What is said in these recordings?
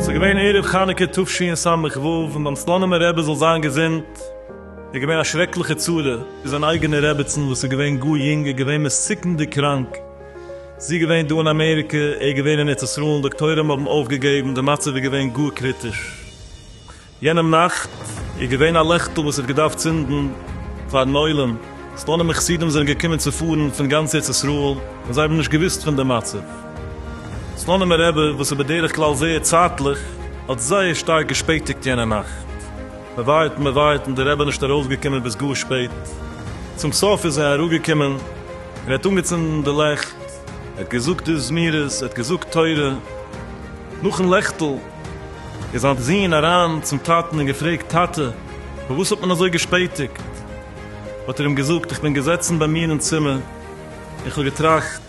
ס'איז געווען ערב חנוכה תשי ס א און ביים סלאנימער רבי זאל זיין געזונט איז געווען א שרעקליכע צרה, איז זיין אייגענע רעביצין וואס איז געווען גאר יונג איז געווען מסוכנ'דיג קראנק, זי געווען דא אין אמעריקע, ער געווען אין ארץ ישראל, דאקטוירים האבן אויפגעגעבן, די מצב איז געווען גאר קריטיש, יענעם נאכט איז געווען א לעכטל וואס האט געדארפט צינדן פארן עולם, סטאנער מיט חסידים זענען געקומען צו פארן פון גאנץ ארץ ישראל און זיי האבן נישט געוואוסט פון די מצב. סטאנעמער רבי וואס איז בדרך כלל זייער צייטליך האט זייער שטארק געשפעטיגט יענע נאכט, מען ווארט און מען ווארט און די רבי איז נישט ארויסגעקומען ביז גאר שפעט, צום סוף איז ער אראפגעקומען און ער האט אנגעצינדן די לעכט, ער האט געזאגט די זמירות, ער האט געזאגט תורה, נאכן לעכטל. איז זיין זון אריין צום טאטן און געפרעגט, טאטע, פארוואס האט מען אזוי געשפעטיגט? האט ער אים געזאגט, איך בין געזעצן ביי מיר אין צימער, און כ'האב געטראכט,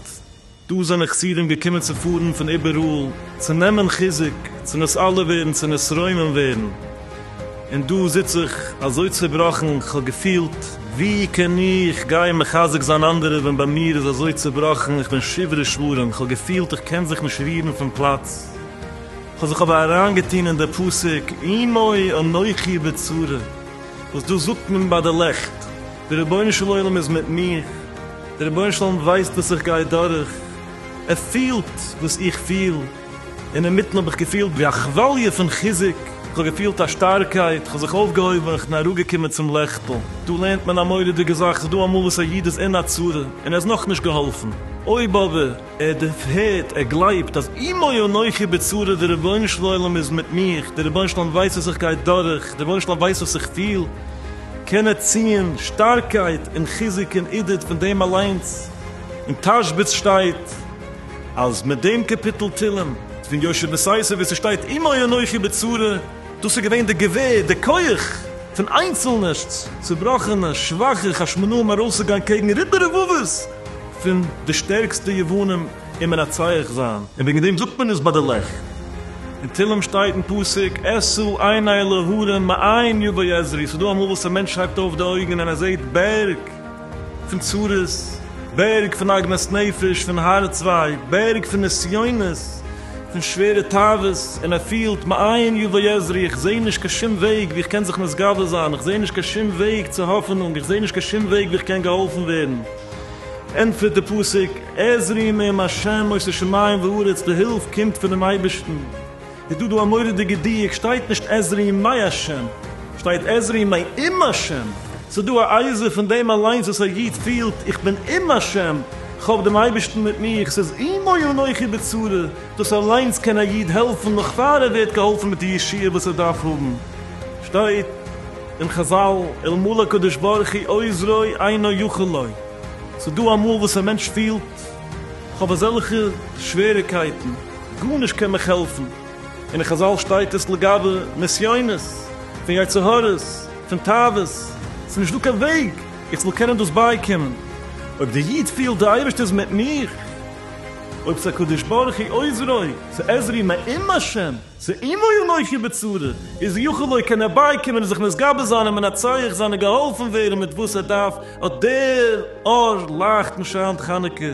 דא זענען חסידים געקומען צו פארן פון איבעראל, צו נעמען חיזוק, צו נסעלע ווערן, צו נתרומם ווערן, און דא זיץ איך אזוי צעבראכן, כ'האב געפילט, ווי קען איך גיין מחזק זיין אנדערע ווען ביי מיר איז אזוי צעבראכן, איך בין שברי שברים, כ'האב געפילט איך קען זיך נישט רירן פון פלאץ. כ'האב זיך אבער אריינגעטון אין די פסוק עמי אנכי בצרה, וואס דאס זאגט מען ביי די לעכט, דער רבונו של עולם איז מיט מיך, דער רבונו של עולם ווייסט וואס איך גיי דורך, ער פילט וואס איך פיל, און אינמיטן האב איך געפילט ווי א כוואליע פון חיזוק, כ'האב געפילט א שטארקייט, כ'האב זיך אויפגעהויבן און כ'בין אראפגעקומען צום לעכטל. דא לערנט מען א מורא'דיגע זאך, ס'איז דא אמאל וואס א איד איז אין א צרה און ער איז נאכנישט געהאלפן, אויב אבער. ער דערפערט, ער גלייבט אז עמי אנכי בצרה, דער רבונו של עולם איז מיט מיך, דער רבונו של עולם ווייסט וואס איך גיי דורך, דער רבונו של עולם ווייסט וואס איך פיל, קען ער ציען שטארקייט און חיזוק און עידוד פון דעם אליינס, אין תשבץ שטייט אז מיט דעם קאפיטל תהלים פון יושע מסייסער וואו ס'שטייט עמי אנכי בצרה, דאס איז געווען די געווער, די כח פון איינצלנע צובראכענע שוואכע חשמונאים ארויסצוגיין קעגן ריבו רבבות. פון די שטערקסטע יוונים אין מנצח זיין. און וועגן דעם זאגט מען עס ביי די לעכט. אין תהלים שטייט אין פסוק עשו עיני להרים מאין יבא עזרי, ס'דא אמאל וואס א מענטש הייבט אויף די אויגן און ער זעט בערג פון צרות, בערג פון עגמת נפש, פון הארץ וויי, בערג פון נסיונות, פון שווערע תאוות, און ער פילט, מאין יבא יעזרי, איך זע נישט קיין שום וועג ווי איך קען זיך מתגבר זיין, איך זע נישט קיין שום וועג צו האפענונג, איך זע נישט קיין שום וועג ווי איך קען געהאלפן ווערן, ענטפערט די פסוק, עזרי מעם השם עושה שמים וארץ, די הילף קומט פונעם אייבערשטן, איז דא דא א מורא'דיגע דיוק, שטייט נישט עזרי מעי השם, שטייט עזרי מעי עם השם, ס'איז דא א עזרה פון דעם אליינס וואס א איד פילט, איך בין עם השם, כ'האב דעם אייבערשטן מיט מיר, כ'זיץ עמו ואנכי בצרה, דאס אליינס קען א איד העלפן נאך פאר ער ווערט געהאלפן מיט די ישועה וואס ער דארף האבן, שטייט אין חזל, אלמלא הקדוש ברוך הוא עוזרי אינו יכול לו, ס'דא אמאל וואס א מענטש פילט, כ'האב אזעלכע שוועריגקייטן, גארנישט קען מיך העלפן, און אין חזל שטייט עס לגבי נסיונות, פון יצר הרע'ס, פון תאוות, ס'נישט דא קיין וועג, איך זאל קענען דאס בייקומען. אויב דער איד פילט די אייבערשטער איז מיט מיר, אויב ס'הקדוש ברוך הוא עוזרו, ס'עזרי מעם השם, ס'עמו אנכי בצרה, איז יכול הוא קען ער בייקומען און זיך נתגבר זיין און מנצח זיין און געהאלפן ווערן מיט וואס ער דארף, אט דער אור לייכט און שיינט חנוכה.